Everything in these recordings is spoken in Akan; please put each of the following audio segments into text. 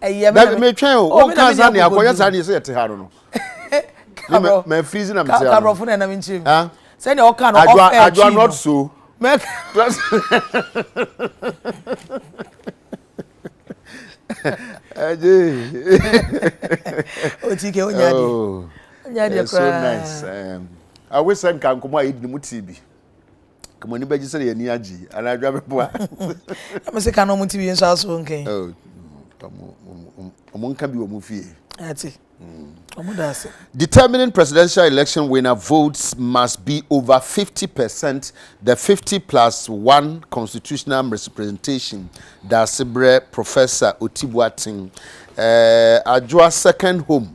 dabi metwɛn o wo nka saa nea akɔyɛ saa nea sɛ yɛte ha no no kabrɔ mɛ firizi na mete ha kabrɔ fo na ɛnam nkyɛn mu ah. sɛnea ɔka no ɔf ɛkyi no adwa not so mɛ ɛgye otike onya deɛ onya deɛ koraa so nice um, awesɛm ka nkɔmɔ a yɛdi no mu tii bi kama ni bɛgye sɛ yɛni agye anaa adwa bɛboa ɛmɛ sɛ ka na ɔmo ti wie nso aso nkan ɔmo nka bi wɔ mo fie ate ɔmo da ase determining presidential election winner votes must be over 50 percent the 50 plus one constitutional representation da ase brɛ professor otibuaten ɛɛ adwoa second home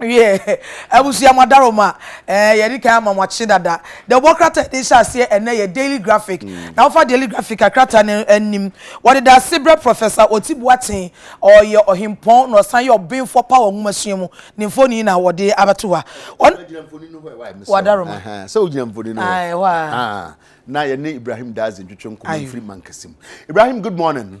wiɛ abusua mo adaro ma ɛɛ eh, yɛde kan ama mo akye dada de ɔbɔ krata ɛde hyɛ aseɛ ɛnɛ yɛ daily graphic mm. na wofa daily graphic a krata no anim wɔde da ase brɛ professor ɔti boaten ɔyɛ ɔhempɔn na ɔsan yɛ ɔbenfoɔ pa wɔ nwomasua mu ne mfoni na wɔde abɛto hɔ wadaro ma sɛ wogyina mfoni no hɔ a na yɛne ibrahim daze ntwetwe nkɔmmɔ mfiri mankɛse mu ibrahim good morning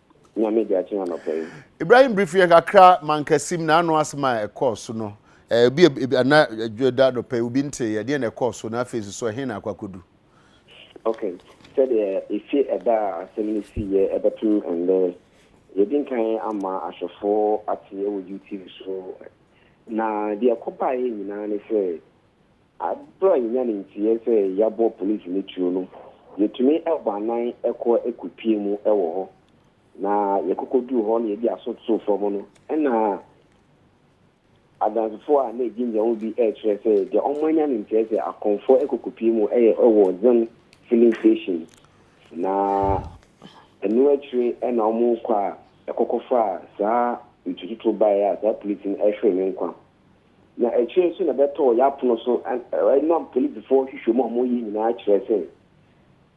Nyame de akye anɔpa yi. Ibrahim brief yɛn kakra mankasim na ano asɛm a ɛkɔɔ so no ebi ebi ana adwo da anɔpa yi obi nte yɛ deɛ na ɛkɔɔ so na afei nso ɛhe na akɔ akɔdu. Okay sɛdeɛ efi ɛda a asɛm no sii yɛ ɛbɛpem ɛndɛ yɛdi nkan ama ahwɛfoɔ ate ɛwɔ UTV so na deɛ ɛkɔ baeɛ nyinaa ne sɛ Bere a yenya ne nteɛ sɛ yɛabɔ polisi no tuo no, yetumi bɔ anan kɔ kopue mu wɔ hɔ, na yɛkokoduu hɔ na yɛde aso too fam no, ɛnna Adansefo a na egyinagyina hɔ bi rekyerɛ sɛ deɛ wɔanya ne nteɛ sɛ akɔmfoɔ kɔ kopue mu yɛ wɔ Zone Filling Station, na ɛno akyire na wɔkɔ a ɛkɔkɔfaa saa ntututuo baeɛ a saa polisi no hweree ne nkwa na akyire nso na ɛbɛtɔɔ yɛn apono so ɛnam polisifoɔ nhwehwɛmu a wɔyɛ nyinaa kyerɛ sɛ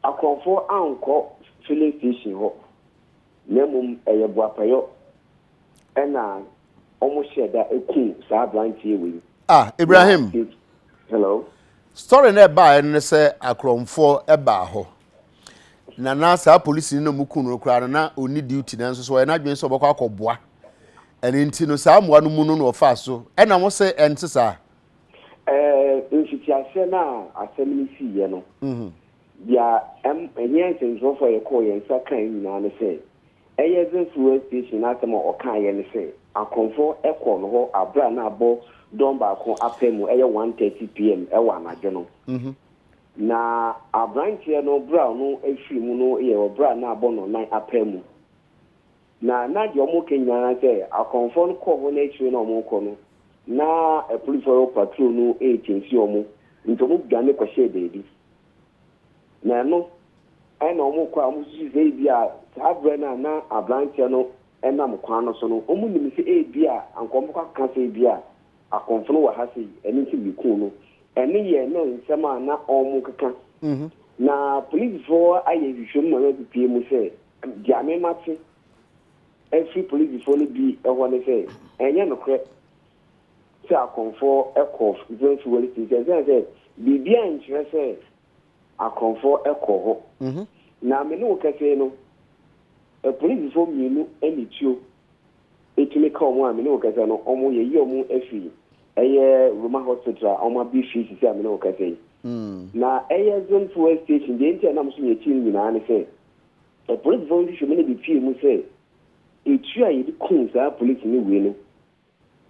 akorɔmfoɔ ankɔ filling station hɔ na mmom ɛyɛ boapayɔ ɛna wɔn hyɛ da ku saa aberanteɛ wei. ah Ibrahim hello story na ɛbaa ɛno ne sɛ akorɔmfoɔ ɛbaa hɔ na na saa polisini no mu kun no koraa no na ɔni duty nanso so ɔyɛ n'adwene sɛ ɔbɛkɔ akɔboa ɛno nti no saa mmoa no mu no na ɔfaa so ɛna mo sɛ ɛnte saa mfitiaseɛ no a asɛm no siiɛ no mhm. deɛ ɛnyɛ nsɛmtwerɛfoɔ a yɛkɔɔ yɛn nsa kae nyinaa ne sɛ ɛyɛ zefua station no asɛm a ɔkaeɛ ne sɛ akorɔmfoɔ ɛkɔɔ no hɔ aberɛ a na abɔ dɔn baako apɛ mu ɛyɛ 1:30 pm ɛwɔ anadwo no mhm. Na aberanteɛ no berɛ a ɔno firi mu no yɛ ɔberɛ a na abɔ no nan apaa mu. Na na deɛ wɔka nyinaa na sɛ akɔmfoɔ no kɔɔ hɔ na akyire na wɔrekɔ no na apolisifoɔ patrol no rekyɛnsi wɔn nti wɔn dwane kɔhyɛɛ baabi. Na ɛno ɛna wɔn kɔ a wɔn susu sɛ ebi a saa berɛ no a na aberanteɛ no nam kwan no so no wɔn nim sɛ ebi a anka wɔn bɛkɔ akeka sɛ ebi a Akɔmfo no wɔ ha sei, ɛno nti mekuu no. Ɛno yɛ na nsɛm a na wɔkeka. Na polisifo ayɛ nhwehwɛmu ma wɔapipie mu sɛ, deɛ me mate afiri polisifo no bi hɔ ne sɛ, ɛnyɛ nokorɛ sɛ akɔmfo kɔɔ Zimmer's Fuel Station, ɛsiane sɛ biribiara nkyerɛ sɛ akɔmfo kɔɔ hɔ. Na me ne wo kɛsee no, polisifo mmienu ne tuo. Etumi ka wɔn a me ne wo kasa no, wɔn yɛyi wɔn afiri ɛyɛ Roma hospital a wɔn abiri firi sisi a me ne wo kasa yi. Na ɛyɛ Zone Fuel Station, deɛ nti a nam so yɛ akyiri no nyinaa ne sɛ, apolisifoɔ nhwehwɛmu no de pue mu sɛ, etuo a yɛde kum saa polisini wei no,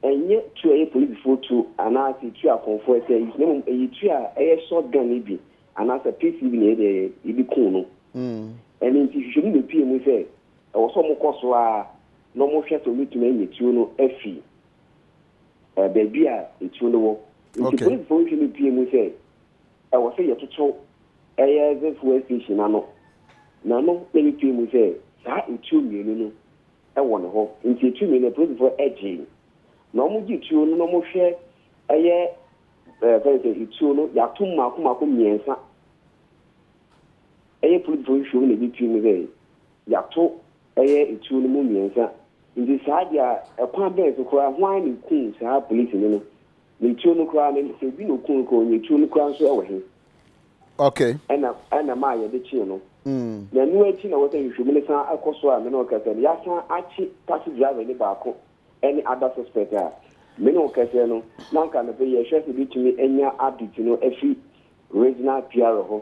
ɛnyɛ tuo a ɛyɛ polisifoɔ tuo anaa sɛ tuo a akɔmfoɔ ɛsɛ use, na mmom ɛyɛ tuo a ɛyɛ short gun no bi anaa sɛ pistol bi na yɛde kum no. Ɛno nti nhwehwɛmu bepue mu sɛ, Ɛwɔ sɛ wɔkɔ so ara na wɔhwɛ sɛ wɔbɛtumi anya tuo no afi baabi a tuo no wɔ. Nti polisifo nhwɛ no pie mu sɛ ɛwɔ sɛ yɛtoto ɛyɛ dze fuel station no ano. N'ano na yɛpie mu sɛ saa etuo mmienu no wɔ ne hɔ. Nti etuo mmienu no polisifo gyee. Na wɔgye tuo no na wɔhwɛ ɛyɛ fɛn sɛ etuo no yɛato mu mmaako mmaako mmiɛnsa. Ɛyɛ politefo nhwehwɛmu na ebi pirim sɛ yɛato ɛyɛ atuo no mu mmiɛnsa nti saa deɛ a ɛkwan bɛn so koraa hwan na ɔkuu saa polisini no? Na atuo no koraa no sɛ obi na ɔkuu no koraa ɔnyɛ atuo no koraa nso ɛwɔ he? Okay. Ɛna ɛna ɛmaa yɛde kyee no. Na ɛno akyi na wɔsɛ nhwehwɛmu no san kɔ so a me ne wo kɛsɛ no yɛasan akye taxi driver ni baako ɛne other suspect a me ne wo kɛsɛ no na anka anɔpɛ yi yɛhwɛ sɛ yɛbɛtumi anya update no afiri regional PRO hɔ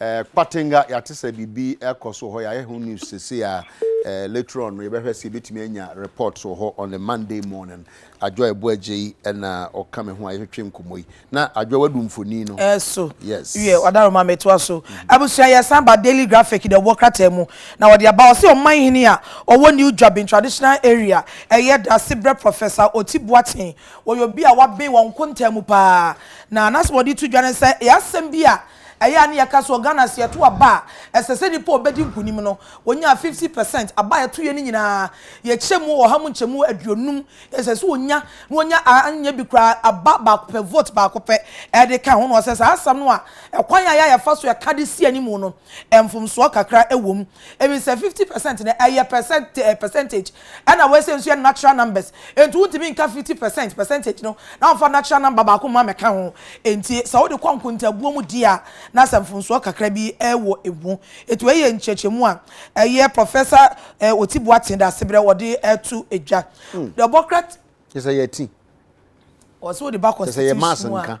Eh, Kpatenga, yɛate sɛ biribi rekɔ so wɔ hɔ, yɛayɛ ho news seesei a, eh, later on no yɛbɛhwɛ sɛ yɛbɛtumi anya report wɔ hɔ on a Monday morning. Adwoa Boagyei na ɔka me ho a yɛtwetwe nkɔmmɔ yi. Na Adwoa wadu mfonin no. Eh, so. Yes. Wiɛ, Ɔdaro ma metoa so. Mm. Abusua, yɛsan ba Daily Graphic deɛ ɔwɔ krataa mu na wɔde aba. Ɔse ɔman hene a ɔwɔ New Dwabin Traditional Area ɛyɛ dase brɛ Professor Oti Boateng. Wɔyɛ obi a waben wɔn nkontaa mu paa. Na n'asɛm a ɔde to dwa ne sɛ ɛyɛ asɛm bi a Ɛyɛ a na yɛka sɛ wɔ Ghana sɛ yɛto aba a, ɛsɛ sɛ nnipa a wɔbɛdi nkonim no, wɔnya 50 percent. Aba a yɛtoeɛ no nyinaa, yɛkyɛ mu ɔha mu nkyɛmu aduonum. Ɛsɛ sɛ wɔnya, na wɔnya a anyɛ bi koraa, aba baako pɛ, vote baako pɛ de ka ho. Na wɔsɛ saa asɛm no a, ɛkwan a ɛyɛ a yɛfa so ka de si anim no, mfomsoɔ kakra wom. Ɛfiri sɛ 50 percent no, ɛyɛ percent, percentage Ɛna wei sei nso yɛ natural numbers enti wontumi nka fifty percent percentage no na womfa natural number baako mma mmɛka ho. Enti sɛ wode kɔ nkontabuo mu di a na sɛ mfomsoɔ kakra bi wɔ ɛmu. Enti wei yɛ nkyerɛkyerɛmu a ɛyɛ Professor Oti Boateng de aseberɛ wɔde to dwa. Deɛ ɔbɔ kra. Kyerɛ sɛ yɛati. Ɔsɛ wode ba constitution mu a.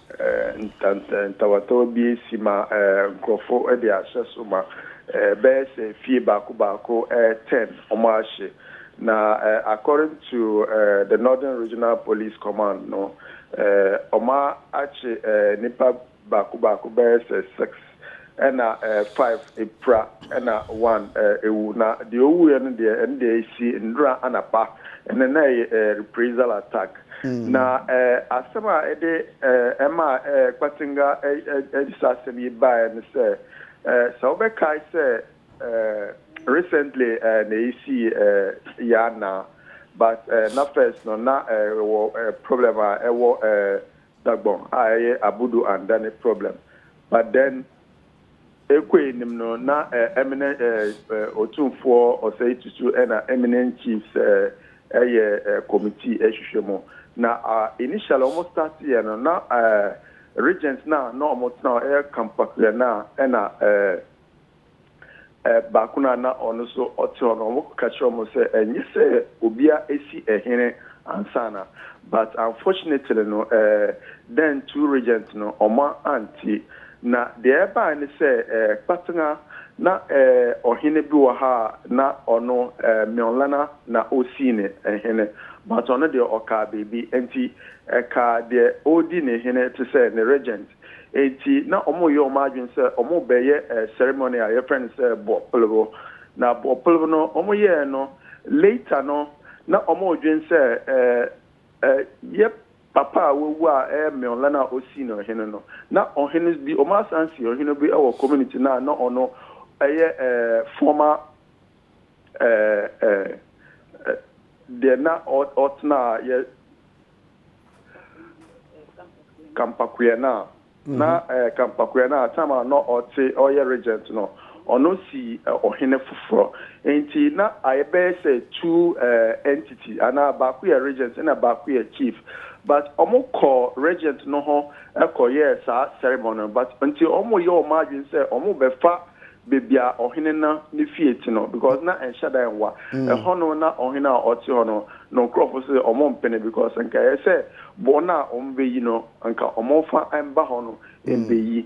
Ntawatawa bi asi ma nkurɔfo de ahyɛ so ma. Ɛbɛyɛ sɛ fie baako baako ten wɔahye. Na according to the Northern Regional Police Command no, wɔakye nnipa baako baako bɛyɛ sɛ six. ɛna ɛɛ five epira ɛna one ɛɛ ewu na deɛ owuiɛ no deɛ ɛno deɛ esi nnora anapa ɛna na ɛyɛ ɛɛ reprisal attack na ɛɛ asɛm a ɛde ɛɛ ɛma ɛɛ Kpatenga ɛɛ ɛde saa asɛm yi baeɛ no sɛ ɛɛ sɛ wobɛkae sɛ ɛɛ recently ɛɛ na esii ɛɛ yɛn anaa but ɛɛ na first no na ɛɛ wɔ ɛɛ problem a ɛwɔ ɛɛ Dagbon a ɛyɛ Abudu and Dani problem but then Ekwe nim no na eh emine eh eh Otumfoɔ Osei Tutu ɛna eminent chiefs eh ɛyɛ eh committee ɛhwehwɛ mu na ah initially wɔn start yɛ no na eh regent na na wɔn tena hɔ ɛyɛ Kampakuya na ɛna eh baako no a na ɔno nso ɔte hɔ no, wɔkɔka kyerɛɛ wɔn sɛ ɛnyɛ sɛ obiara asi hene ansa na, but unfortunately no, eh, then two regents no, wɔn ante. Na deɛ ɛbae ne sɛ, eh, Kpatena, na eh, ɔhene bi wɔ ha a, na ɔno, eh, Mionlana na osii ne hene, but ɔno deɛ ɔkaa biribi, enti ɛkaa deɛ ɔredi ne hene te sɛ ne regent. Enti na wɔreyɛ wɔn adwene sɛ wɔrebɛyɛ ceremony a yɛfrɛ no sɛ bɔpelew. Na bɔpelew no wɔyɛɛ no later no na wɔredwene sɛ yɛ papa a wawu a ɛyɛ Meola no a ɔsii no ɔhene no. Na ɔhene bi, wɔasan si ɔhene bi wɔ community no a na ɔno yɛ former deɛ na ɔtenaa yɛ Kampakoeɛ no a, na Kampakoeɛ no a time a na ɔte ɔyɛ regent no, ɔno sii ɔhene foforɔ. Nti na ayɛ bɛyɛ sɛ two entity anaa baako yɛ regent ɛna baako yɛ chief. But wɔn kɔɔ regent no hɔ kɔ yɛɛ saa ceremony no but nti wɔn yɛ wɔn adwene sɛ wɔn bɛfa baabi a ɔhene no ne fie te no because na ɛnhyɛ da nwa mm. ɛhɔ no na ɔhene a ɔte hɔ no na nkurɔfo sɛ ɔmo mpene because nka ɛyɛ sɛ bɔn a ɔmo bɛyi no nka ɔmo mfa mba hɔ no mm. mbɛyi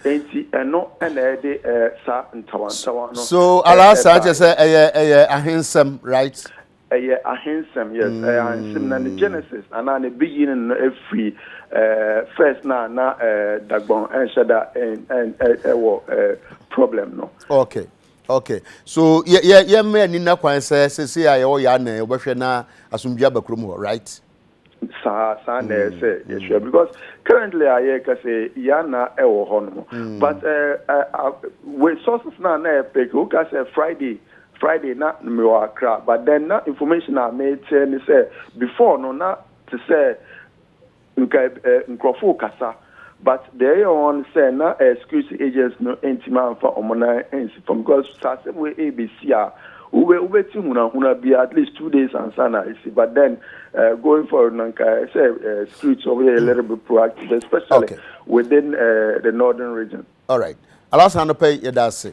nti ɛno ɛna ɛde ɛɛ saa ntawantawa no. so alasa kyɛ sɛ ɛyɛ ɛyɛ ahensɛm right. Ɛyɛ ahensɛm, yes, ɛyɛ ahensem na ne genesis anaa ne beginning no firi eh, first no a na eh, Dagbon ɛnhyɛ da ɛn, ɛn, ɛ, ɛwɔ eh, problem no. Okay, okay. So yɛ, yɛ, yɛmmrɛ Nina kwan sɛ sesei a yɛwɔ yɛ anan wobɛhwɛ na asomdwie aba kurom hɔ, right? saa saa na ɛyɛ sɛ yɛhwɛ because currently a yɛrekasa yɛn ana ɛwɔ hɔ nom but resources na na ɛpɛ ka woka sɛ friday friday na mewɔ akra but then na information a meteɛ ne sɛ before no na te sɛ nka nkurɔfo kasa but deɛ ɛyɛ wɔn ne sɛ na ɛyɛ security agents no ntumi amfa wɔn nan ansi fam because sɛ asɛm wei ɛrebɛsi a wobɛ wobɛti hunahuna bi at least two days ansa na ɛsi but then uh, going forward no nka sɛ uh, security wɔyɛ a little bit proactive especially okay. within uh, the northern region. All right. Alasan no pɛ yɛda ase.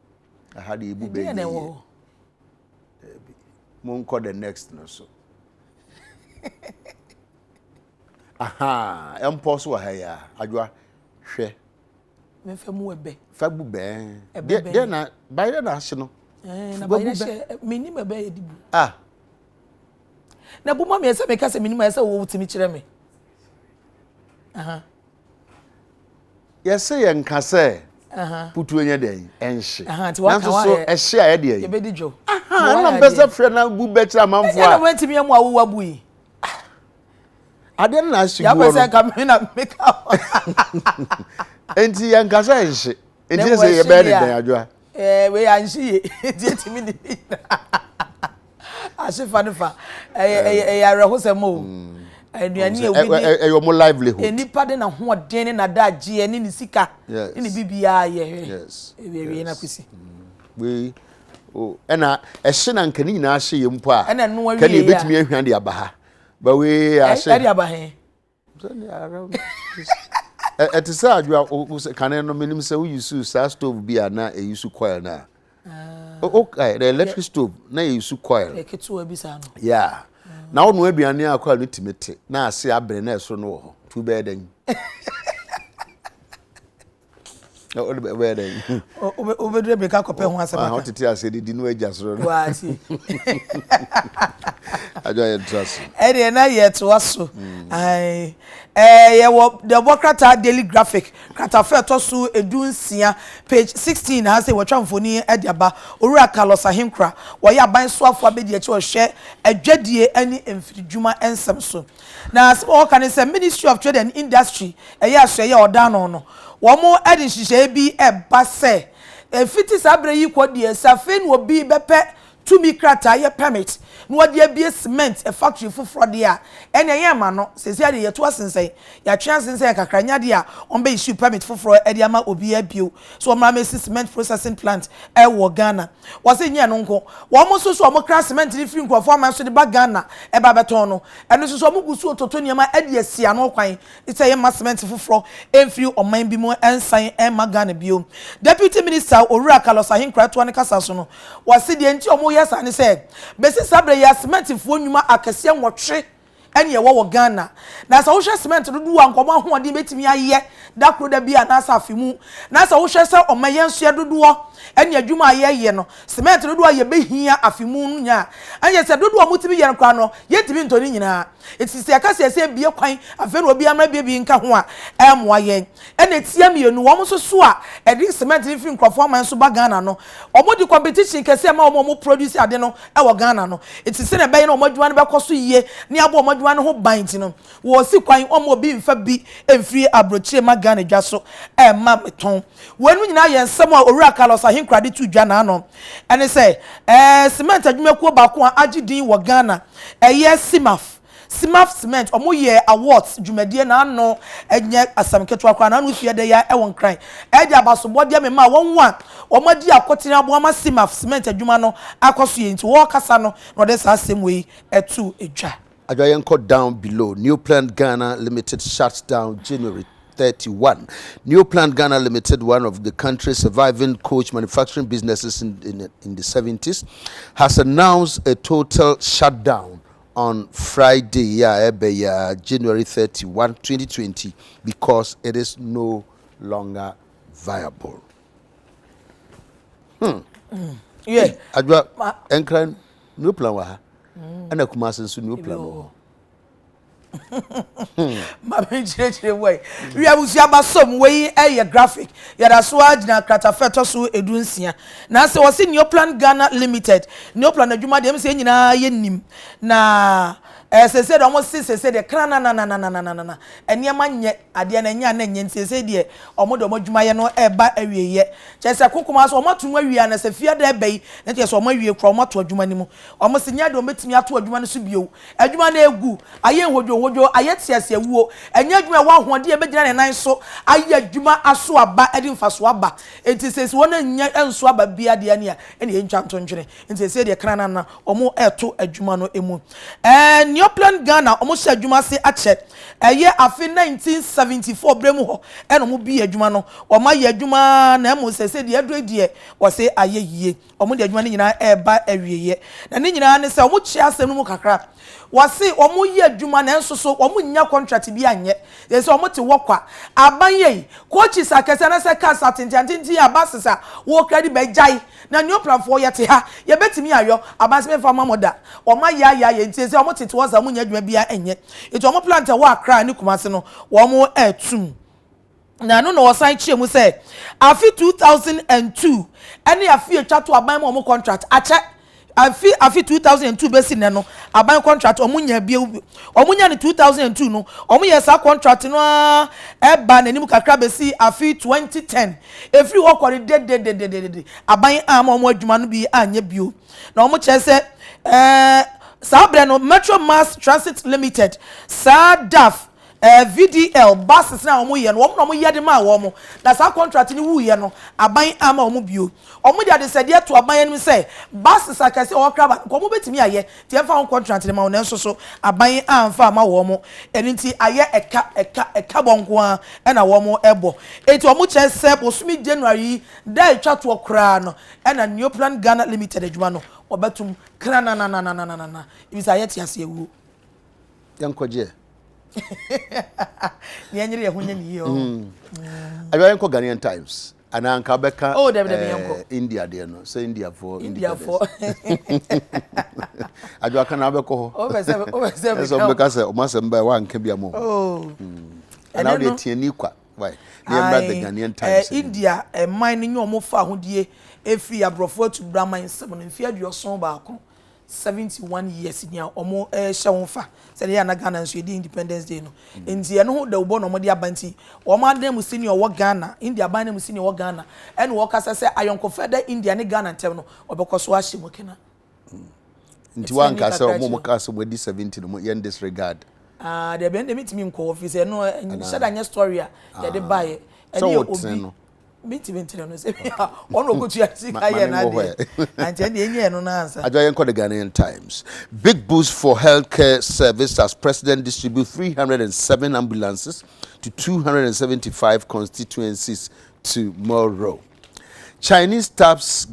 Aha de ebu bɛyɛ. Ɛdeɛ na ɛwɔ hɔ. Daabi. Monkɔ the next no so. Aha, ɛmpɔ so wɔ ha yi a. Adwoa, hwɛ. Mɛfa mu ɛbɛ. Fa bu bɛn. Ɛbɛ bɛn. Deɛ na bayerɛ na ahye no. Ɛɛ na bayerɛ hyɛ menim ɛbɛ yɛ de bu. Ah. Na bu ma mi ɛsɛ mi ka sɛ menim ɛsɛ wo wotumi kyerɛ mi. Aha. yɛsɛ yɛn nka sɛ putu nyɛ dɛn ɛnhye nanso so ɛhye a yɛde ɛyi yɛbɛdi dwo ɛna mpɛ sɛ frɛ na gu bɛkyerɛ amanfoɔ a ɛna wɔn atumi ɛmu awowa bu yi adeɛ no na ahye guo no yɛapɛ sɛ nka me na meka nti yɛn nka sɛ ɛnhye nti sɛ yɛbɛyɛ ne dɛn adwoa eh, wei anhye ye nti ɛtumi ne ne nyinaa ahye fa no fa ɛyɛ awerɛhosɛm o aduane a wodi ɛyɛ ɔmo livelihood nnipa de n'ahoɔden ne n'adagyeɛ ne ne sika ne ne bibiara yɛ ɛwiewie na kwesi wei ɛna ɛhye na nka ne nyinaa hye yɛ mpo a ɛna ɛno awie a kɛne ebetumi ahwa de aba ha bawe ahye ɛde aba he ɛte sɛ adwoa kane no menim sɛ woyi su saa stove bi a na ɛyi su coil no a wokae the electric stove na ɛyi su coil yeah na wono aduane a coil no tumi te na ase abere na ɛsoro no wɔ hɔ tu bɛyɛ dɛn wode bɛyɛ dɛn wobɛdurɛ bɛka kɔpɛ ho asɛm aka wotete asɛ de di no agya soro no waase adwa yɛntra so ɛdeɛ na yɛtoa so yɛwɔ dɛbɔ krataa daily graphic kratafa ɛtɔ so edu nsia page sixteen na asɛ wɔtwa mfoni ɛde aba owura carlos ahenkura wɔyɛ aban soafoɔ abɛdi akyi ɔhwɛ adwadie ɛne mfiridwuma nsɛm so Na asɛm a wɔka ne sɛ Ministry of Trade and Industry yɛ asoɛyɛ a ɔda ano no, wɔde nhyehyɛe bi reba sɛ ɛfiti saa bere yi kɔ deɛ sɛ afei na obi bɛpɛ tumi krataa yɛ permit na ɔde abue cement factory foforɔ deɛ a, ɛnneɛ yɛmma no. Seesei deɛ yɛatu asensɛn, yɛatwe asensɛn kakra, ɛnyɛ adeɛ a wɔbɛ-issue permit foforɔ de ama obiara bio sɛ ɔmmra mmɛsi cement processing plant wɔ Ghana. Wɔse nyɛ ɛno nko, wɔn nso so wɔn kra cement no firi nkurɔfoɔ aman so de ba Ghana ɛba bɛtɔn no. Ɛno nso so wɔn gu so toto nneɛma de asi ano kwan sɛ yɛmma cement foforɔ mfiri ɔman bi mu nsan mma Ghana bio. Deputy Minister Owura Carlos Ahenkoratoa no kasa so no, wɔse deɛ nti wɔyɛ saa ne sɛ bɛsi saa berɛ yi ara cement foɔ nnwuma akɛseɛ nwɔtwe ɛne ɛwɔ wɔ Ghana. Na sɛ wohwɛ cement dodoɔ a nka wɔn ahoɔden bɛtumi ayɛ da koro da bi a anaasɛ afe mu, na sɛ wohwɛ sɛ wɔn ayɛnsoɛ dodoɔ ɛne adwuma a yɛyɛ no, cement dodoɔ a yɛbɛhia afe mu no nya a, ɛne sɛ dodoɔ a motumi yɛ no koraa no yɛntumi ntɔ ne nyinaa. Nti sɛ yɛka sɛ yɛsɛ yɛbue kwan afei na obiara mmra bue bi nka ho a, ɛremmoa yɛn. ɛna ɛtia mmienu, wɔn nso so a ɛde cement no firi nkurɔfoɔ aman so ba Ghana no, wɔn de competition kɛseɛ ɛma wɔn a wɔn produce ade no wɔ Ghana no, ɛti sɛdeɛ ɛbɛyɛ na wɔn adwuma no bɛkɔ so yie ne abɔ wɔn adwuma no ho ban nti no, wɔsi kwan wɔn obi mfa bi mfiri abrokyire mma Ghana dwa so ɛma me tɔn. Wei nom nyinaa yɛ nsɛm a Owura Carlos Ahenkorah de to dwa n'ano, ɛne sɛ ɛɛ cement adwumakuo baako a agye din wɔ Ghana ɛyɛ CIMAF, Simaf Cement, wɔn yɛ awards dwumadie na ano nyɛ asɛm ketewa koraa na ano sua dɛ yɛ wɔ Nkran. Ɛde abasobɔdeɛ me maa wɔn a wɔn adi akotene aboa ma Simaf Cement adwuma no akɔ so yie nti ɔɔkasa no na ɔde saa asɛm wei too dwa. Adwoa Yɛnkɔ Down Below, Neoplant Ghana Limited Shuts Down January thirty one, Neoplant Ghana Limited, one of the country's surviving coach manufacturing businesses in the in the seventies, has announced a total shutdown on Friday yi a ɛreba yi ara, January thirty one, twenty twenty, because it is no longer viable. Hmm. Mm. Yeah. Adwa, ɛnkra new plan wɔ ha. Mm. Ɛna Kumasi nso new plan wɔ hɔ. Hmm. maame nkyerɛkyerɛ mu ayi wiamusuaba som wei ɛyɛ graphic yɛda so agyina kratafɛ tɔ so edu nsia Na sɛ wɔse Neoplan Ghana Limited, Neoplan adwuma deɛ, ɛm sɛ yɛn nyinaa yɛnim. Na eh, seesei deɛ wɔn se seesei deɛ kranananananananana, nneɛma nyɛ, adeɛ no ɛnyɛ a na ɛnyɛ nti seesei deɛ wɔn de wɔn adwumayɛ no ɛreba awieeɛ. Kyerɛ sɛ ko kumaa so wɔn ato mu awie a, na sɛ fiada ɛbɛyi, na kyerɛ sɛ wɔn awie koraa, wɔn ato adwuma no mu. Wɔn se nyɛ adeɛ wɔn bɛtumi ato adwuma no so bio. Adwuma no ɛregu, ayɛ nhodwohodwo, ayɛ teaseawuo. Ɛnyɛ adwuma a ɛwɔ ahoɔden a ɛbɛgyina ne nan so ayɛ adwuma aso aba, ɛde mfasoɔ aba. Enti seesei wɔn annya nso aba biara deɛ ne a ɛne yɛntwa nto ntwene nti seesei deɛ kran na wɔn ɛreto adwuma no mu ɛɛ Neoplan Ghana wɔn hyɛ adwuma ase akyɛ ɛyɛ afe 1974 berɛ mu hɔ ɛna wɔn bie adwuma no wɔn ayɛ adwuma na mmom seesei deɛ aduro yi deɛ wɔse ayɛ yie. Wɔde adwuma no nyinaa reba awieeɛ, na ne nyinaa ne sɛ wɔkyea asɛm no mu kakra. Wɔse wɔreyɛ adwuma nanso so wɔnnya kɔntrat bi anyɛ. Yɛn sɛ wɔte hɔ kwa. Aban yei, coaches akɛseɛ anaasɛ cars atentenatenten a buses a wɔkra de ba yi gyae, na Neoplanfoɔ yɛte ha, yɛbɛtumi ayɔ? Aban se memfa mma mo da. Wɔayaayaa yɛn nti sɛ wɔtete hɔ saa, wɔnnya adwuma biara nyɛ. Enti wɔn plant a ɛwɔ Accra ne Kumasi no, wɔreto mu. na ɛno na wɔsan kyerɛ mu sɛ afe 2002 ne afe a ɛtwa to aban ma wɔn contract akyɛ afi afe 2002 bɛsi nnɛ no aban contract wɔn nya bio wɔn nya no 2002 no wɔn yɛ saa contract no ara ɛba n'anim kakra bɛsi afe 2010 efiri hɔ kɔ no dedededede aban a ma wɔn adwuma no bi anyɛ bio na wɔn kyerɛ sɛ ɛɛ saa abirɛ no metro mass transit limited saa daf. VDL, buses no a wɔn yɛ no wɔn na wɔn yɛ de maa wɔn, na saa contract no wuu yɛ no aban amma wɔn bio. Wɔn de adesɛdeɛ to aban anim sɛ buses akɛseɛ a wɔwɔ Craba no nka wɔn bɛtumi ayɛ nti yɛmfa ho contract no ma wɔn nanso so aban amfa amma wɔn ɛno nti ayɛ ɛka ɛka ɛka bɔ nko ara na wɔn ɛbɔ nti wɔn kyerɛ sɛ bosome January yi da a ɛtwa toɔ koraa no ɛna Neoplan Ghana Limited adwuma no wɔbɛtom krananananananana ɛfiri sɛ ayɛ teaseawuo. yɛnkɔ gyeɛ ne ɛnyere yɛ ho nyɛ ne yie ɔ ɛbɛ mm. yɛnkɔ Ghanaian Times anaa nka bɛka oh, eh, India deɛ no sɛ Indiafoɔ Indiafoɔ adwa ka na wobɛkɔ hɔ ɛsɛ wobɛka sɛ ɔma sɛ mba woanka bi ama oh. mm. anaa wode atiani kwa ne ɛmmra the Ghanaian Times eh, India ɛman eh, no nyɛ ɔmo fa ahodie ɛfiri aborɔfoɔ atu braman nsɛm no mfeɛ aduɔson baako seventy one years ni a wɔrehyɛ ho fa sɛ ɛyɛ a na Ghana nso yɛdi independence day no nti ɛno ho dawubɔ na wɔde aba nti wɔn adan mu sini a ɔwɔ Ghana India aban no mu sini a ɔwɔ Ghana ɛna wɔkasa sɛ ayɔnkofa da India ne Ghana ntɛm no wɔbɛkɔ so ahyɛ mu kena. Nti wanka sɛ wɔn wɔn kaa sɛ wɔn adi seventy no yɛn disregard. Ah, dɛbi ɛnna mi ti mi nkɔ wɔ fi sɛ ɛno nhyɛ da nyɛ story a yɛde ba yɛ ɛne yɛ obi. mentumi nkyerɛ no sɛ ɔna ɔkɔtua sika yɛ no adeɛ ankyɛ deɛ ɛnyɛ ɛno no ansa adwa yɛnkɔ the ghanaian times big boost for healthcare service as president distribute 307 ambulances to 275 constituencies tomorrow chinese taps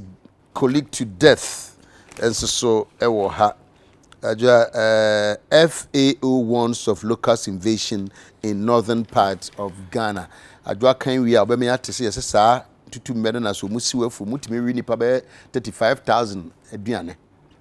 Colleague to Death nso so wɔ ha. Adwoa eh, FAO warns of locust invasion in northern part of Ghana. Adwoa kan wie a ɔbɛma yɛate sɛ yɛsɛ saa tutummɛ no na sɛ ɔmu siw afu mutumi we nipa bɛyɛ 35,000 aduane.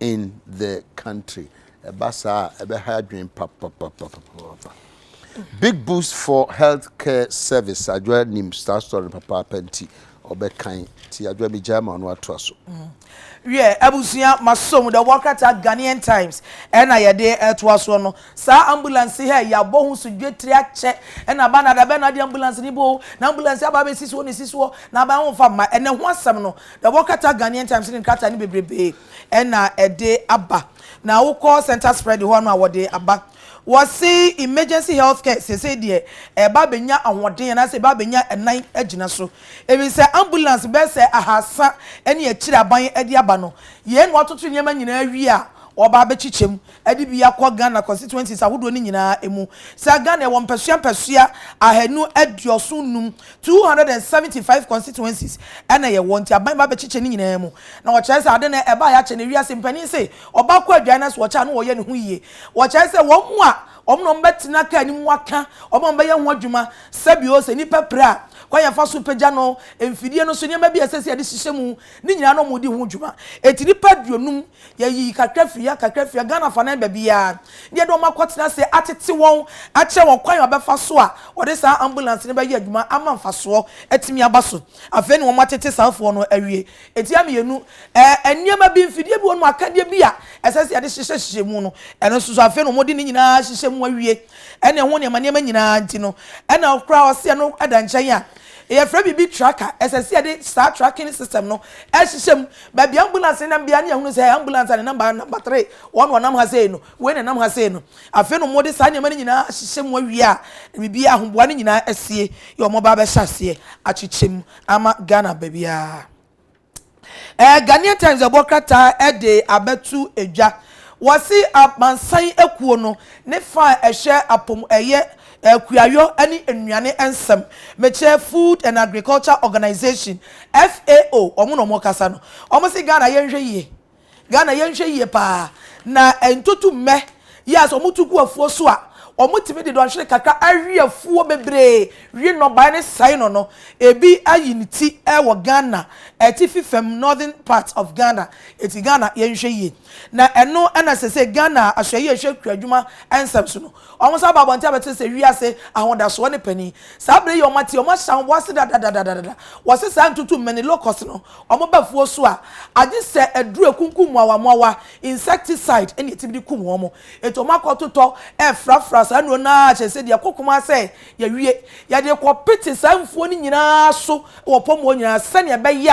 in the country ɛba saa a ɛbɛha adwene papapapapapa big boost for health care service adwoa nim saa story no papaapa nti ɔbɛkan ti adwoa mi gyaa ma ɔno atoa so. Mm. wiɛ abusua maso mu dɛ wɔn krataa ghanaian times ɛna yɛde ɛtoa soɔ no saa ambulance hɛ yɛabɔ ho so dwetire akyɛ ɛna ba na da bɛn na ade ambulance ne bɔ o na ambulance aba abɛsi soɔ ne si soɔ na aban ho mfa mma ɛnɛ ho asɛm no Na wɔkata Ghanaian Times ne nkrataa no bebrebe na ɛde aba. Na wokɔ Centre Spread hɔ a na wɔde aba. Wɔse emergency health care seesei deɛ ɛreba abɛnya ahoɔden anaasɛ ɛreba abɛnya nan agyina so. Efisɛ ambulance bɛyɛ sɛ ahaasa ne akyiri aban de aba no. Yei na wɔatoto nneɛma nyinaa awie a wɔreba abɛkyekyɛm Ɛde bi akɔ Ghana constituencies ahodoɔ no nyinaa mu. Saa Ghana yɛwɔ mpɛsoa mpɛsoa ahanu aduoson nnum, 275 constituencies, na yɛwɔ nti aban ba bɛkyekyɛ ne nyinaa mu. Na wɔkyerɛ sɛ ade no ɛbaeɛ akyɛ na wiase mpanin se ɔbaa kɔ adwae na sɛ ɔkyɛ a na wɔyɛ ne ho yie. Wɔkyerɛ sɛ wɔn a wɔn na wɔbɛtena car no mu aka wɔn a wɔbɛyɛ ho adwuma sɛ bio sɛ nipa pira a kwan yɛ fa so pagya no, mfidie no so nneɛma bi a ɛsɛ sɛ yɛde hyehyɛ mu ne nyinaa na wɔredi ho dwuma. Enti nipa aduonum Yɛyi kakra firi ha, kakra firi ha, Ghana afanan baabiara, na yɛde wɔn akɔtena ase atete wɔn, akyerɛ wɔn kwan a wɔbɛfa so a wɔde saa ambulance no bɛyɛ adwuma ama mfasoɔ atumi aba so. Afei na wɔatete saafoɔ no awie. Ntia mmienu, ɛɛ, nneɛma bi, mfidie bi wɔ nom, akadeɛ bi a ɛsɛ sɛ yɛde hyehyɛ hyehyɛ mu no, ɛno nso so afei na wɔde ne nyinaa ahyehyɛ mu awie, ɛne ɛho nneɛma nneɛma nyinaa nti no, ɛna koraa ɔse ɛno da nkyɛn a, yɛfrɛ biribi tracker, ɛsɛ sɛ yɛde saa tracking system no hyehyɛ mu Baabi ambulance ne nam biara ne yɛahunu sɛ ambulance a ne number yɛ number three, wɔn na wɔnam ha sei no, wei na ɛnam ha sei no. Afei na wɔde saa nneɛma no nyinaa ahyehyɛ mu awie a, biribiara, ahoboa no nyinaa asie yɛ wɔaba abɛhyɛ aseɛ akyekyɛ mu ama Ghana baabiara. Eh, Ghanaian Times ɛbɔ krataa de abɛto dwa. Wɔse amansan akuo no ne fa a ɛhwɛ apɔm ɛyɛ Akuayɔ ne nnuane nsɛm mekyerɛ Food and Agriculture Organisation, FAO, wɔn na wɔkasa no. Wɔn se Ghana yɛnhwɛ yie, Ghana yɛnhwɛ yie paa. Na ntotummɛ yi a sɛ wɔto gu afuo so a, wɔtumi de dɔnhwere kakra awe afuo bebree, we nnɔbaeɛ no sɛe no no. Ebi ayi ne ti wɔ Ghana atifi fam, northern part of Ghana. Eti Ghana yɛnhwɛ yie. Na ɛno na sese Ghana Ahwɛyie a ɛhwɛ akuadwuma nsɛm so no, Wɔsan baa abɔnten abɛkyerɛ sɛ wiase ahodasoɔ ne panin. Saa berɛ yi a wɔate yi, wɔahyɛ ahoboa ase dadadadadada. Wɔse saa ntutu mmɛne, locust, no, wɔba afuo so a, agye sɛ aduro a ɛkunkum mmoawammoawa, insecticide, ɛna ɛtumi de kum wɔn. Enti wɔakɔtotɔ refrafra saa nnuro no ara kyerɛ sɛ deɛ ɛkɔ Kumasi sɛ yɛawie. Yɛde rekɔpete saa mfuo no nyinaa so wɔ Pɔmmuo nyinaa sɛdeɛ ɛbɛyɛ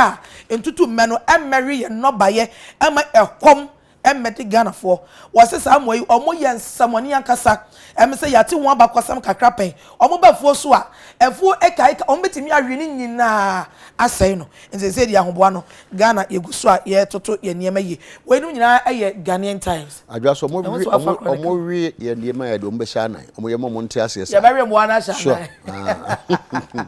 a ntutu mmɛ no mmɛwe yɛn nnɔbaeɛ mma ɛkɔm Ɛmmɛde Ghanafoɔ. Wɔse saa mmoa yi wɔn yɛ nsɛmɔne ankasa. Ɛme sɛ yɛate ho abakɔsɛm kakra pɛn. Wɔn ba afuo so a, afuo eka eka, wɔn bɛtumi awe ne nyinaa asɛe no. Nti seesei deɛ ahoboa no, Ghana yɛgu so a yɛretoto yɛn nneɛma yie. Weinom nyinaa yɛ Ghanaian Times. Adwoa so wɔn we wɔn we yɛn nneɛma a yɛde wɔn bɛhyɛ anan. Wɔn yɛ ma wɔn nte aseɛ saa. Yɛbɛwe mmoa no ahyɛ anan. Sure.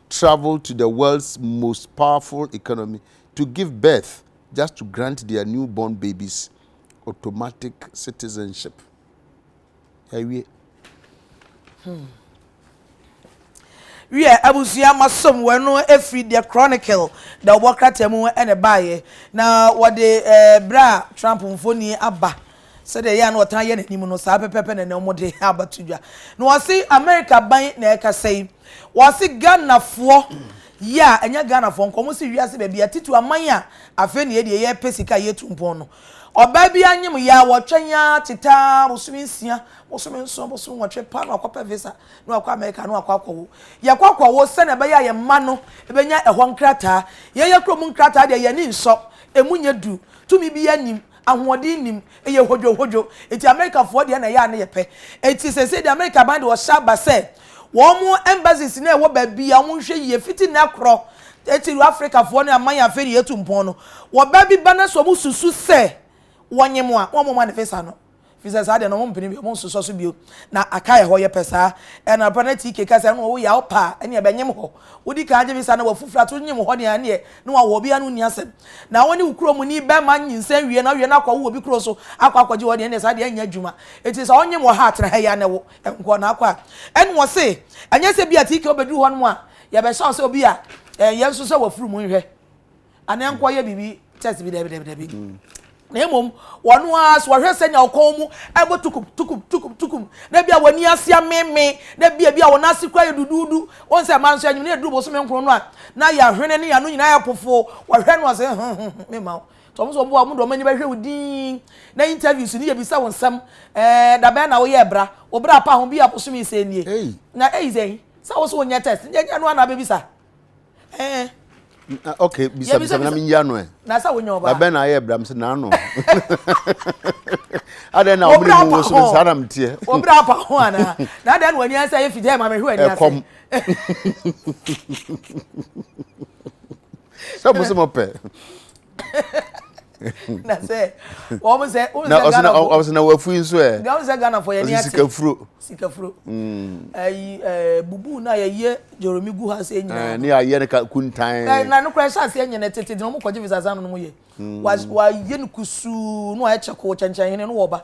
travel to the world's most powerful economy to give birth just to grant their new born babies automatic citizenship. Yɛawie. Hmm. wiɛ abusua ma som wɔ no efiri deɛ chronicle da ɔbɔ krataa mu ɛna ɛbaeɛ na wɔde ɛɛ berɛ a trump mfoni aba. Sɛdeɛ ɛyɛ a na ɔtaa yɛ n'anim no, saa pɛpɛɛpɛ na ɛnnɛ wɔde aba to dwa. Na wɔse Amerika aban na ɛrekasa yi, wɔse Ghanafoɔ yɛ a, ɛnyɛ Ghanafoɔ nko, wɔse wiase baabi a, titiri aman a afei na yɛ deɛ yɛrepɛ sika a yɛretu mpɔn no. Ɔbaa bi anyem yɛ a, wɔtwɛn ara tete ara, bosome nsia, bosome nson, bosome nwɔtwe paa na wakɔpɛ visa na wakɔ Amerika na wakɔ akɔwo. Yɛkɔ akɔwo sɛdeɛ ɛbɛyɛ a yɛn mma no bɛnya ɛhɔ nkrataa. Yɛn yɛn kurom nkrataa deɛ yɛn ani nsɔ, ɛmu nyɛ duru, tumi biara nnim. Ahoɔden nnim. Ɛyɛ hodwohodwo. Enti Amerikafoɔ deɛ na ɛyɛ a na yɛpɛ. Enti seesei deɛ Amerika aban de ɔhyɛ aba sɛ wɔn embassies no a ɛwɔ baabi a wɔnhwɛ yie fiti nnɛ korɔ titiriw Afrikafoɔ ne aman a afei na yɛatu mpɔn no wɔba bi ba na sɛ wɔsusu sɛ wɔnye mo a na wɔmma wɔn visa no. Ɛfiri sɛ saa deɛ no wɔmpene bio, wɔnsosɔ so bio, na aka yɛ hɔ, yɛpɛ saa. Ɛna papa na TK ka sɛ ɛno woyɛ a wopɛ a ɛneɛ bɛnyem hɔ. Wodi kan gye visa na wafu flight wonyem hɔ deɛ a ɛneɛ ne wawɔ obi a ne wonni asɛm. Na wone wo kuro muni bɛma nyinsɛn wie na wowie no akɔwo wɔ obi kuro so akɔ akɔgye hɔ deɛ ɛneɛ saa deɛ ɛnyɛ adwuma. Nti sɛ ɔnyem wɔ ha a tena ha yi ara na wo nkɔ. Na akɔ a ɛne wɔse ɛnyɛ sɛ bi a TK wobɛduru hɔ nom a yɛbɛhyɛ wo sɛ obi a ɛyɛ nso sɛ wafuru mu nhwɛ. Anaa nkɔyɛ biribi test bi dɛbi dɛbi dɛbi. Na mmom wɔn ara so wɔhwɛ sɛ nea ɔkɔn mu ɛbɔ tukum tukum tukum tukum na bi a wɔn ani ase ameme na bi a bi a wɔn ase kura yɛ duduudu wɔn sɛ mmaa nso anyim na eduru bosome nkron no a na yɛ ahwene ne yɛano nyinaa yɛ pofo wɔhwɛ no ase ho ho ho mema wo tɔm so ɔmo a ɔmo de ɔmo ani bɛhwɛ wo din na interviews ne yɛ bisa wo nsɛm ɛɛ dabɛn na woyɛ bra wo bra pa ho bi a bosome sɛ nie na eyi sɛ sɛ wo so wonyɛ test nyɛ nyɛ no ana bɛbisa Eh. Ah, okay, bisa bisa na mi yia no ɛ. Na sɛ wonya ɔbaa. Labɛn na ayɛ bram sɛ n'ano. Adɛn na wɔn mu wo so no saa na mi teɛ. Wɔbra apa ho ana? Na adɛn na wɔn ani asɛ yɛ fidie ma mi hwɛ ani ase. Ɛkɔm. Sɛ mo sɛ mo pɛ. na sɛ wɔn sɛ wɔn sɛ ghana fo wɔn sɛ na wafu yi nso ɛ wɔn sɛ ghana fo yɛ ni ase sikafuro sikafuro ɛyi ɛɛ bubu na yɛ yɛ joromi gu ha se nyinaa ɛɛ ne yɛ yɛ ne ka kuntan ɛɛ na ne kura ɛhyɛ aseɛ nyɛ ne tete na wɔn kɔ gye visa san no yɛ wa wa yɛ ne kusuu na wɔayɛ kyɛ ko kyɛnkyɛn hene no wɔ ba.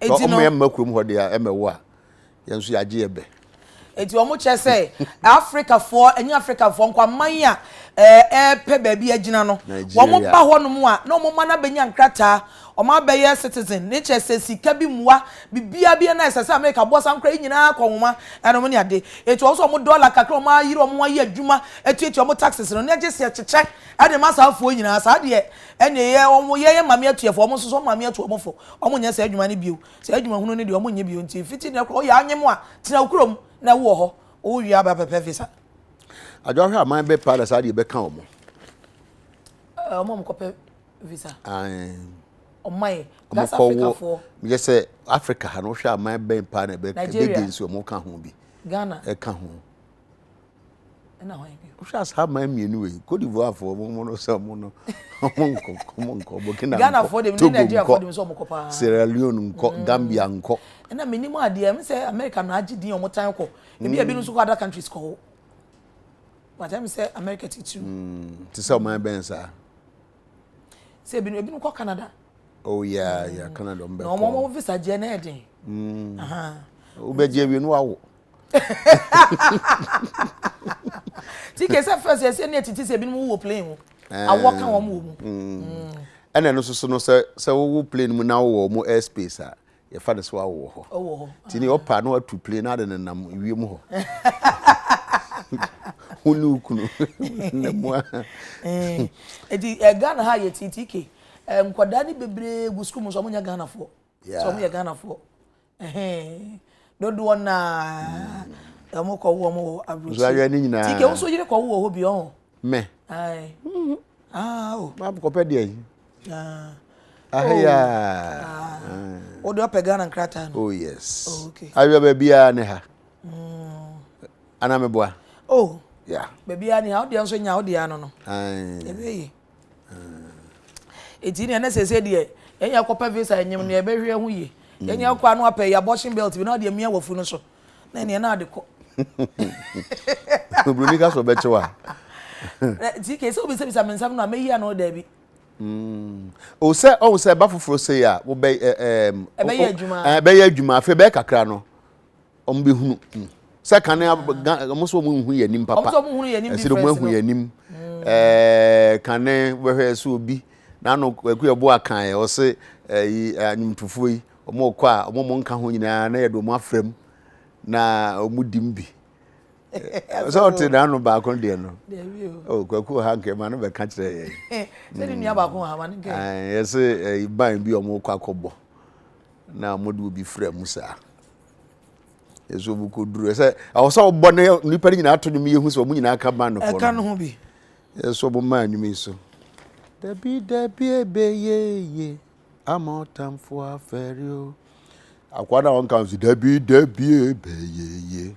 Sɛ wɔn yɛ mma kurom hɔ deɛ a ɛmɛ wo a yɛn nso yɛagye yɛ bɛ. Eti wɔn kyerɛ sɛ Afrikafoɔ ɛnyɛ Afrikafoɔ nko aman a ɛɛpɛ baabi agyina no wɔn ba hɔ nom a na wɔn mma no abɛnya nkrataa wɔn abɛyɛ citizen ne kyerɛ sɛ sika bi mua bibia bi na ɛsɛ sɛ Amerika boa saa nkora yi nyinaa kɔ nwoma ɛnom ne ade eti wɔn nso wɔn dɔla kakra wɔn ayere wɔn ayɛ adwuma atuatua wɔn taxes no ne agye sɛ kyekyɛ ɛde ma saa afoɔ nyinaa saa deɛ Ɛnneɛ yɛ wɔn, yɛ yɛn maame atua fo, wɔn nso so wɔn maame atu wɔn fo. Wɔn nyɛ saa adwuma no bio, saa adwuma hunu no deɛ wɔn nyɛ bio, nti fiti nnɛ koraa woyɛ anyem a, tena wo kurom na wowɔ hɔ, wo wie a bɛ pɛpɛ visa. Adwo ahwɛ aman bɛ paa na saa deɛ bɛka wɔn. Ɛɛ wɔn a wɔn kɔ pɛ visa. Ae. Ɔman yi, gas Africa foɔ. Yɛ sɛ Africa ha no wohwɛ aman bɛn paa na bɛ, bɛ gɛ nsi wɔn ka ho bi. Ghana. Ɛka ho. ɛna hwan bio. wohwɛ asaa man mmienu wei kodivoafoɔ mo mo no sɛ ɔmo no ɔmo nkɔ ɔmo nkɔ burkina nkɔ togo nkɔ sierra leone nkɔ mm. gambia nkɔ. ɛna mi nim adeɛ ɛmu sɛ america na agye din ɔmo tan kɔ ebi ebi nso kɔ other countries kɔ hɔ wata mi sɛ america ti tiri. Mm, ti sɛ ɔman bɛn saa. sɛ ebi ebi kɔ canada. oh yeah yeah mm. canada ɔmo bɛ kɔ. na ɔmo ɔmo visa gye ɛna ɛden. wobɛgye awie no wawo. ti kɛ sɛ fɛs ɛsɛ ne atiti sɛ ebinom wowɔ plane mu eh. awɔ ka wɔn wɔ mu mm. Mm. ɛna ɛno soso no sɛ sɛ wowɔ plane mu na wowɔ wɔn air space a yɛfa no sɛ wawɔ hɔ ɔwɔ hɔ ti ne ɔpa no atu plane na ade nenam wiem hɔ ho ne okunu ne mu a eh. eti eh, ghana ha yɛ titike nkwadaa ne bebree gu sukuu mu nso wɔn nyɛ ghanafoɔ sɛ wɔn yɛ ghanafoɔ dodoɔ no ara wɔn kɔ wɔn wɔ aburokyire tike wo nso yere kɔ wo wɔ hɔ bi ɔho. mɛ kɔpɛ deɛ yi aheyaa wode ɔpɛ ghana nkrataa no oh yes oh, okay. awerɛ baabiaa ne ha mm. ana meboa oh yeah. baabiaa ne ha wodeɛ nso nya wodeɛ ano no ɛbɛyi Eti nea na sese deɛ yɛnyɛ akɔpɛ visa enyim nea yɛbɛhwɛ ho yie yɛnyɛ akɔ ano apɛ yɛ abortion belt bi na ɔde amia wafu no so na nea na ade kɔ. Oburoni ka sɛ ɔbɛkyɛ wa. Ti kese obi sɛ bisa me nsɛm no a meyi ano daabi. Mm. O sɛ ɔhu sɛ ɛba foforɔ sei a wobɛ ɛbɛyɛ adwuma afei bɛyɛ kakra no wɔn bɛ hunu mu sɛ kan na wɔn sɛ wɔn nhu yɛn anim papa ɛsɛ wɔn ahu yɛn anim mm. ɛɛ kan na wɔhwɛ ɛsɛ obi n'ano kwaku yɛ bo akan yɛ ɔsɛ ɛyi anyimtufoɔ yi wɔn kɔ a wɔn wɔn nka ho nyinaa na yɛde wɔn afra mu na wɔn di mu bi sɛ ɔte n'ano baako deɛ no oh, kwaku ha nkɛ ma no bɛka kyerɛ yɛ yɛse ban bi ɔmo kɔ akɔbɔ na wɔde obi fira mu saa ɛsɛ obi kɔ duro ɛsɛ ɛwɔ sɛ ɔbɔ ne nipa no nyinaa ato dwom yɛhu sɛ ɔmo nyinaa ka ban no ɛka no ho bi ɛsɛ ɔmo maa nnwuma yi so dabi dabi ebe yeye ama ɔtamfo afɛre o akwa na ɔnka nso dabi dabi ebe yeye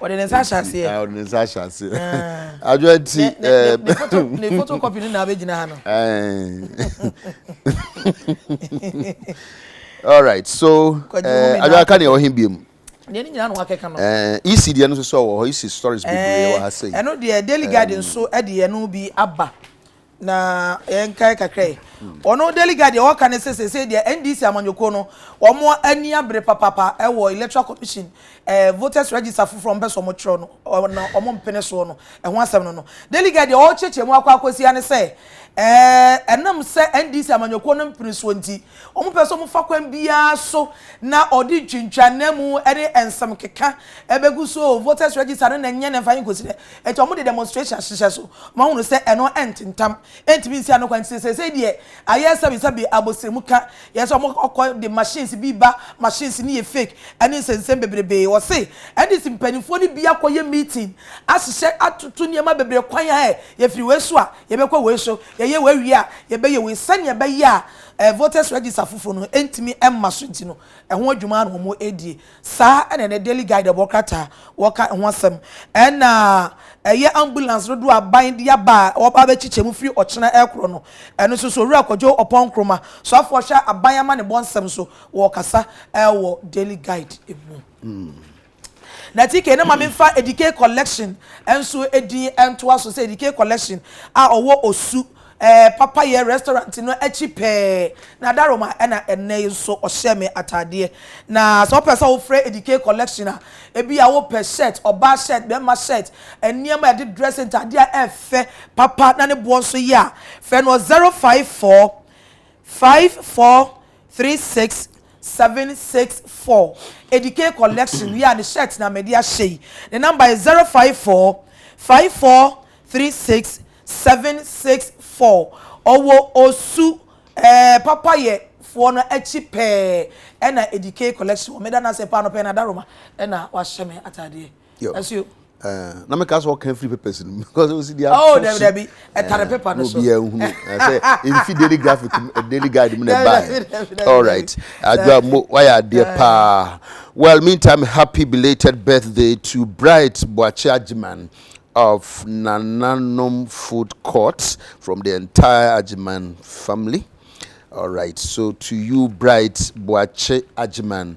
Ɔde ne nsa ahyɛ aseɛ. Ah, ɔde ne nsa ahyɛ aseɛ. Ah. Adwoa nti. Eh, ne foto ne foto kɔpi no na abɛgyina ha no. All right, so eh, adwoa ka deɛ ɔhe bie mu. deɛ ne nyinaa na wakɛka no. ec eh, deɛ no nso sɛ ɔwɔ hɔ ec stories bebree wɔ ha sɛ. ɛno deɛ daily garden nso deɛ no bi aba. na yɛnkae kakra yi ɔno daily guide deɛ ɔka ne sɛ sɛsɛ deɛ ndc amanyɔkuo no wɔn ani abere papapa ɛwɔ electoral commission ɛɛ voters register foforɔ mpɛ sɛ wɔn twerɛ no ɔna wɔn mpene soɔ no ɛho asɛm no no daily guide deɛ ɔrekyerɛkyerɛ mu akɔ akɔsia ne sɛ ɛɛ ɛnam sɛ ndc amanyɔkuo no mpene soɔ nti Wɔpɛ sɛ wɔfa kwan biara so na wɔde ntwintwanamu ne nsɛmkeka bɛgu so o, voters register no na ɛnyɛ ne mfa yɛ nkɔsi dɛ. Nti wɔde demonstration ahyehyɛ so. Wɔahunu sɛ ɛno ntentam, ɛntumi nsi ano kwan nti seesei deɛ ayɛ sɛbesɛbe, abosrɛmu ka, yɛ sɛ wɔkɔ de machines bi ba, machines no yɛ fake ne nsɛnsɛm bebrebee. Wɔse NDC mpaninfoɔ no bi akɔyɛ meeting ahyehyɛ atoto nneɛma bebree kwan a ɛ, yɛfiri wei so a, yɛbɛkɔ wei so, yɛyɛ wei wie a, yɛbɛyɛ wei sɛdeɛ ɛbɛyɛ a, Ɛɛ voters register foforo no ntumi mma so nti no, ɛho adwuma ara na wɔredie. Saa na ɛnɛ Daily Guide bɔ krataa wɔka ɛho asɛm. Ɛna ɛyɛ ambulance dodoɔ a aban de aba a wɔba abɛkyekyɛ mu firi ɔkyena ɛkorɔ no, ɛno nso so Owura Kwadwo Ɔpɔn Nkrumah, soafoɔ hwɛ aban amanebɔ nsɛm so, wɔrekasa ɛwɔ Daily Guide mu. Na TK no ma me mfa Edike Collection nso din ntoa so sɛ Edike Collection a ɔwɔ Osu, ɛɛ, Papayɛ Restaurant no akyi pɛɛ. Na Daroma na ɛnnɛ yi nso ɔhyɛ me ataadeɛ. Na sɛ wopɛ sɛ wofrɛ Edike Collection a, ebia wopɛ shirt, ɔbaa shirt, barima shirt, nneɛma a yɛde dress, ntaadeɛ a ɛyɛ fɛ papa na ne boɔ nso yɛ a, frɛ no wɔ 054 54. Three six seven six four edike collection wie a ne shirt na mɛde ahyɛ yi ne number yɛ zero five four five four three six seven six four ɔwɔ osu ɛɛ papa yɛ foɔ no akyi pɛɛ ɛna edike collection wɔ meda no ase paa anɔpa yi na adaroma ɛna wahyɛ me ataadeɛ. Yo. ɛso yo. Uh, na meka sɛ ɔka free papers no because ɔsi deɛ oh dabi dabi ɛtare paper no so obiara nhunu sɛ nfi daily graphic daily guide mu na ɛbae all right adwa mo wayɛ adeɛ paa well meantime happy belated birthday to bright boakye agyeman of Nananom Food Court from the entire Ajiman family. All right, so to you, Bright Boache Ajiman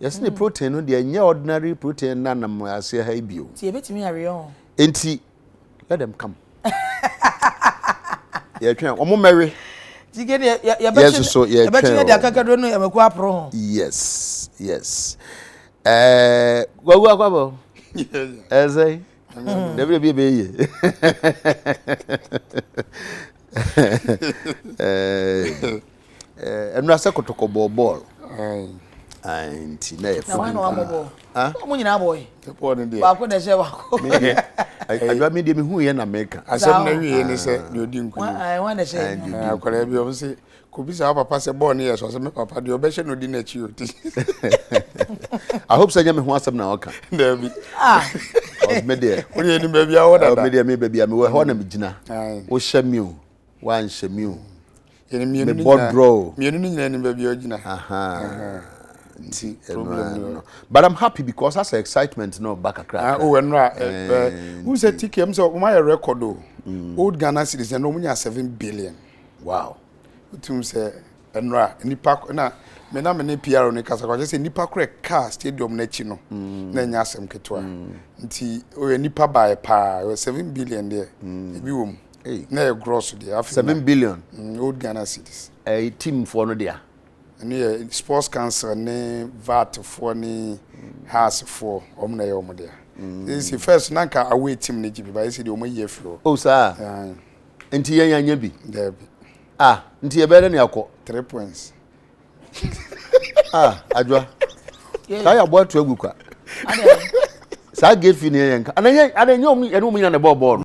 Yɛse ne protein no deɛ nyɛ ordinary protein na nam aseɛ ha yi bio. Ti ebetumi aweɛ ho. Enti let them come. Yɛtwɛn wɔn mmɛwe. Jige deɛ yɛbɛkye yɛbɛkye yɛ deɛ akakaduro no yɛbɛkɔ aporo ho. Yes yes. Ɛɛ wawu akwaba o. Ɛsɛ. Dabi ebi ebe yie. Ɛɛ. Eh, ɛnura sɛ kɔtɔkɔ bɔɔ bɔɔl. Ayi nti na yɛ funu. Na wɔn na wɔn bɔ bɔɔl. Ah, wɔn nyinaa bɔ yi. Bɔɔl ni deɛ. Baako na ɛhyɛ baako. Mi deɛ, adwa mi deɛ mi hu yɛ na mi ka. Asɛm na wi yɛ ni sɛ ni odi nkuni. Wɔn ayi wɔn na ɛhyɛ yi. Eh, akɔla bi wɔn sɛ kobi sa papa sɛ bɔɔl ni yɛ sɔ sɛ mi papa deɛ ɔbɛhyɛ na odi n'akyi oti. I hope sɛ nyɛ mi ho asɛm na ɔka. Dɛbi. Ah. Mi deɛ. Wɔn yɛ ni baabi awɔ dada. Mi deɛ mi baabi a mi wɔ hɔ na mi gyina. Ayi. Wɔhyɛ mi o. wanhyɛ me o. Me bɔ drɔ o. Mmienu no nyinaa ni baabi a ɔgyina. Nti problem no. But I'm happy because that's the excitement no ba kakra. Ah, oh, ɛnura. Who said TK? I'm so, my record o. Mm. Old Ghana cities na ɔmo nya seven billion. Wow. Wotum sɛ ɛnura nipa na me na me ne PR ne kasa kwakyɛ sɛ nipa korɛ kaa stadium n'akyi no mm. na ɛnyɛ asɛm ketewa. Mm. Nti ɔyɛ nipa baayɛ paa, ɔyɛ seven billion deɛ ebi wɔ mu. Ei, na yɛ gross deɛ afei. Seven billion. Mm, old Ghana cities. Ɛɛ eh, team foɔ no dea. Ɛno yɛ sports council ne VAT foɔ ne house foɔ wɔn na yɛ wɔn dea. Ɛsi mm. first na nka away team ne gye bi ba ɛsi deɛ wɔn ayi afiri hɔ. Oh saa. Nti yɛn yɛn nyɛ bi. Dɛbi. Ah, nti yɛ bɛyɛ dɛ ne akɔ. Three points. ah, adwa. Saa yɛ abɔ ato agu kwa. Saa gefi ne yɛn ka. Ana yɛ ana nyɛ wɔn yɛn wɔn nyina na ɛbɔ bɔɔl.